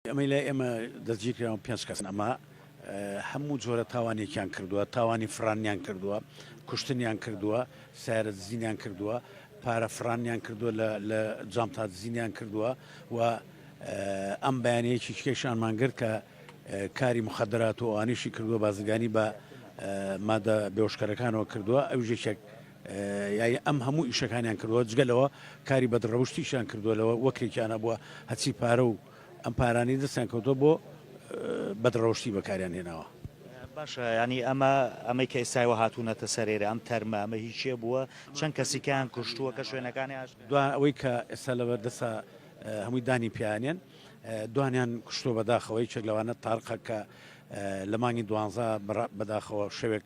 ئەمەی لای ئێمە دەستگیرکراون پێنج کەسن، ئەمە هەموو جۆرە تاوانێکیان کردووە، تاوانی فڕانیان کردووە، کوشتنیان کردووە، سیارە دزینیان کردووە، پارە فڕانیان کردووە لە جانتا دزینیان کردووە و ئەم بەیانەیە چیچکەیشانمان گرت کە کاری مخدرات و ئەوانیشی کردووە بازرگانی بە مادە بێوشکەرەکانەوە کردووە ئەو ژێکێک یانی ئەم هەموو ئیشەکانیان کردوە جگە لەوە کاری بەد ڕەوشتیشیان کردووە لەوە وەکرێکیان هەبووە هەچی پارە و ئەم پارانەی دەستیان کەوتوە بۆ بەد ڕەوشتی بەکاریان هێناوە. باشە یانی ئەمە ئەمەی کە ئێستا ئێوە هاتوونەتە سەر ئێرە ئەم تەرمە ئەمە هی کێ بووە چەند کەسیکەیان کوشتووە کە شوێنەکانی ئاش دوا ئەوەی کە ئێستا لەبەر دەسا هەمووی دانی پیانێن دوانیان کوشتووە بەداخەوە یەکێک لەوانە تاڕقە کە لە مانگی دوانزە بەداخەوە شەوێک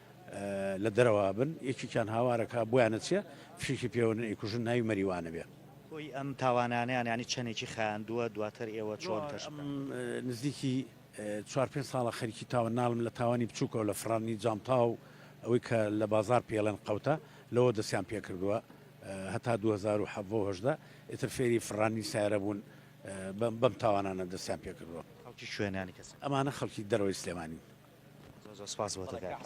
لە دەرەوە بن یەکێکیان هاوارە کا بۆیانە چیە فشکی پێوەن ئەیکوژن ناوی مەریوانە بێ. کۆی ئەم تاوانانەیان یانی چەنێکی خایاندووە دواتر ئێوە چۆن کەش بکەن؟ نزیکی چوار پێنج ساڵە خەریکی تاوان نالم لە تاوانی بچووکەوە لە فڕاندنی جانتا و ئەوەی کە لە بازاڕ پێی ئەڵێن قەوتە لەوە دەستیان پێ کردووە هەتا دوو هەزار و حەڤە و هەژدە ئیتر فێری فڕاندنی سایارە بوون بەم تاوانانە دەستیان پێ کردووە. خەڵکی کوێن یانی کەسەکە؟ ئەمانە خەڵکی دەرەوەی سلێمانین. زۆر زۆر سپاس بۆتە کاک.